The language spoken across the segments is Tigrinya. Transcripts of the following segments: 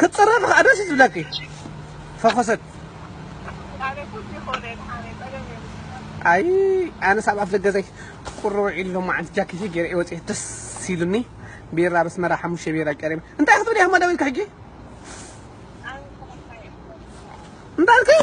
ክትፅረፊ ከዓ ደስ እዩ ዝብለኪ ፈኾሰት ኣይ ኣነስ ኣብ ኣፍ ደገ ዘይ ቁርብ ዒሉ ሎማ ዓንቲ ጃኬተይ ገይረ እየ ወፂኤ ደስ ኢሉኒ ቢራ በስመራ ሓሙሽተ ቢራ ቀሪበ እንታይ ክትብሊ ኢኹም ደዊልካ ሕጂ እንታይ ኣልከይ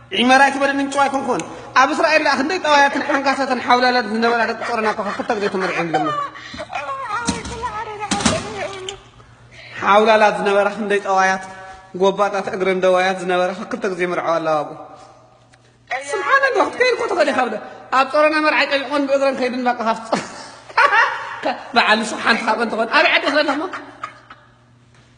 ዒመር ኣይትበል ምንጩ ኣይኮንኩን ኣብ እስራኤል ደኣ ክንደይ ጠዋያትን ሓንካሰትን ሓውላላትን ዝነበራ ደቂ ጾሮና እኮ ክልተ ግዜ ተመርዕዮም ደሞ ሓውላላት ዝነበራ ክንደይ ጠዋያት ጎባጣት እግረን ደዋያት ዝነበራ ክልተ ግዜ መርዓው ኣላዋጉ ስብሓን ኣላ ክትከይድ እኮ ትኽእል ኢኻ ብለ ኣብ ጾሮና መርዓይ ጠቢቆን ብእግረን ከይድን በቃ ካብቲ በዓል ንሱ ሓንቲ ካብአን ትኾን ኣበይ ዓዲ ክለለኹማ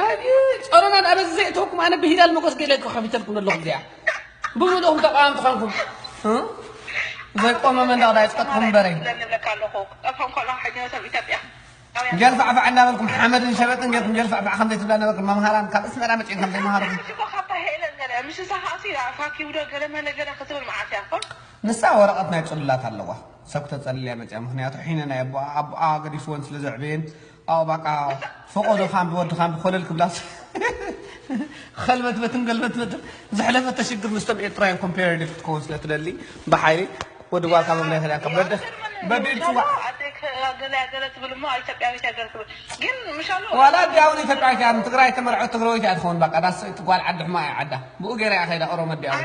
ኣየ ጸሮና ድኣ በዚ ዘየእተወኩም ኣነ ብሂላል መጎስ ገለ ከቢተልኩም ኣለኹ እዚኣ ብምልእኹም ተቃዋምቲ ኾንኩም ዘይቆመ መንደቕ ዳይ ጸጥኩም እምበረይ ጀልፋዕፋዕ እናበልኩም ሓመድን ሸበጥን ጌርኩም ጀልፋዕፋዕ ከም ዘይትብላ ነበርኩም መምሃራን ካብ እስመራ መፅኦም ከም ዘይመሃርኩም ንሳ ወረቐት ናይ ፅሉላት ኣለዋ ሰብ ክተፀልልያ መፅያ ምክንያቱ ሒነ ናይ ኣቦኣ ኣቦኣ ገዲፍወን ስለ ዘዕበየን ኣው ባቃ ፈቆዶ ካምቢ ወዲ ካምቢ ኮለል ክብላስ ኸልበትበትን ገልበትበትን ዘሕለፈ ተሽግር ምስቶም ኤርትራውያን ኮምፓራቲቭ ክትከውን ስለ ትደሊ ብሓይሊ ወዲ ጓልካ ምብላይ ከዳ ከበደ በዲ ጽዋ ዋላ ዲያውን ኢትዮጵያዊት እያ ትግራይ ተመርዐት ትግራዊት እያ ትኸውን በቃ ዳስ ጓል ዓዲ ሕማ እያ ዓዳ ብኡ ገይራ እያ ከይዳ ኦሮሞ ዲያውን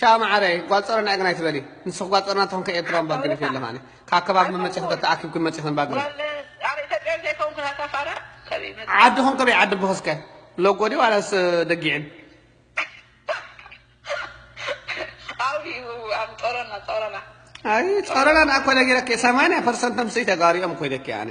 ቻው ማዓረይ ጓል ጾሮና እየ ግን ኣይትበሊ ንስኺ ጓል ጾሮና ትኾን ከኤርትራውን ባግን እየ ለማኒ ካብ ከባቢ መመጺኺ ዶ ተኣኪብክን መጺኽን ባግን ዓድኹም ከበይ ዓዲ ኣቦኺ እስከ ሎጎ ድዩ ዋላስ ደጊዕን ጾሮና ንኣኮ ነጊረኪ ሰማንያ ፐርሰንቶም ስይ ተጋሩ እዮም ኮይደኪ ኣነ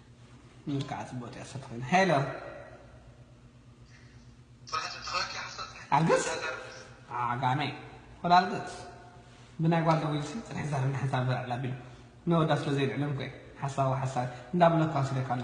ኑር ካዓ ፅቡቅ ጤል ሰብ ኮይኑ ሄሎ ዓገፅ ዓጋመ ሆላል ገፅ ብናይ ጓል ደዊልሲ ፅንሕ ዛር እንዳሓንሳብ ዘልዕል ኣቢሉ ነወዳ ስለዘይልዕል እንኮ እዩ ሓሳዊ ሓሳዊ እንዳበለ እኳ ስደካ ኣሎ።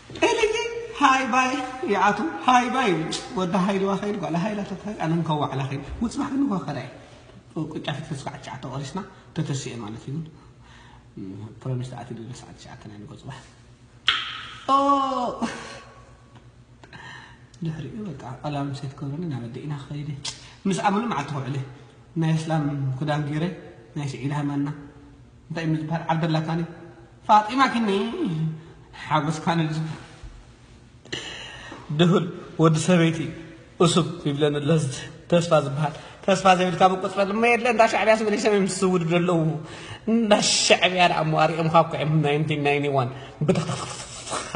ኤልይ ሃይ ባይ ይኣትው ሃይ ባይ ይውጭ ወዲ ሃይልዋ ከይዱ ጓል ሃይላ ተታዩ ኣነ እንኳ ዋዕላ ከይዱ ውጽባሕ ግን እንኳ ከዳይ ቁጫ ፍትፍት ስዓት ትሽዓተ ቆሪስና ተተሲኤ ማለት እዩ ፕሮሚስ ተኣትዩ ድለ ሰዓት ትሽዓተ ናይ ንጎ ጽባሕ ድሕሪኡ በቃ ቃላ ምሴት ክብረኒ ናብ ኣዴኢና ክኸይደ ምስ ኣመሉ መዓልቲ ክውዕለ ናይ እስላም ክዳን ገይረ ናይ ስዒድ ሃይማና እንታይ እሞ ዝብሃል ዓርዲ ኣላታኒ ፋጢማ ኪኒ ሓጎስካ ንልዝብ ድሁል ወዲ ሰበይቲ እሱብ ይብለኒ ኣሎ ተስፋ ዝብሃል ተስፋ ዘይብልካ ምቁፅረ ድማ የለ እንዳ ሻዕብያ ስበለ ሰበይ ምስ ዝውድድ ኣለዉ እንዳ ሻዕብያ ደኣ እሞ ኣሪኦም ካብኩዕም ናይንቲ ናይኒ ዋን ብትኽትኽትኽ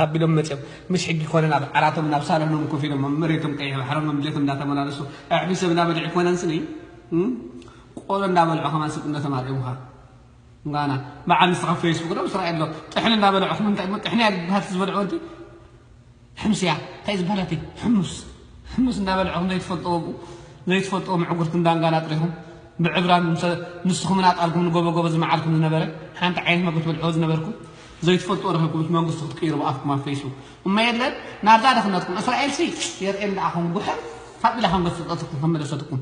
ኣቢሎም መፅኦም ምስ ሕጊ ኮነ ናብ ዓራቶም ናብ ሳሎኖም ኮፍ ኢሎም መሬቶም ቀይሕ ባሕሮም መምሌቶም እንዳተመላለሱ ኣዕቢ ሰብ እንዳበልዕ ኮነን ስኒ ቆሎ እንዳበልዑ ከማን ስብ እንዶ ተማርዕሙካ ጋና በዓል ንስካ ኣብ ፈይስቡክ ዶ ምስ ራኣይ ዶ ጥሕኒ እንዳበልዑኩም እንታይ እሞ ጥሕኒ እያ ትበሃል እቲ ዝበልዑ ወዲ ሕምስ እያ እንታይ እዩ ዝበሃል እቲ ሕሙስ ሕሙስ እንዳበልዑኩም ዘይትፈልጥዎ ብኡ ዘይትፈልጥዎ ምዕጉርቲ እንዳንጋና ጥሪኹም ብዕብራ ንስኹምን ኣጣልኩም ንጎበጎበ ዝመዓልኩም ዝነበረ ሓንቲ ዓይነት መግቢ ትበልዕዎ ዝነበርኩም ዘይትፈልጥዎ ረኺብኩም እቲ መንግስቲ ክትቅይሩ ብኣፍኩም ኣብ ፈይስቡክ እሞ የለን ናብዛ ድኽነትኩም እስራኤልሲ የርእየን ደኣ ኹም ጉሐፍ ካብ ኢላ ከም ገሰጸትኩም ከም መለሰትኩም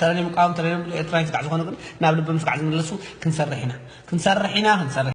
ተረ ናይ ምቃወም ተረ ናይ ኤርትራዊ ስጋዕ ዝኾኑ ግን ናብ ልቢ ምስጋዕ ዝምለሱ ክንሰርሕ ኢና ክንሰርሕ ኢና ክንሰርሕ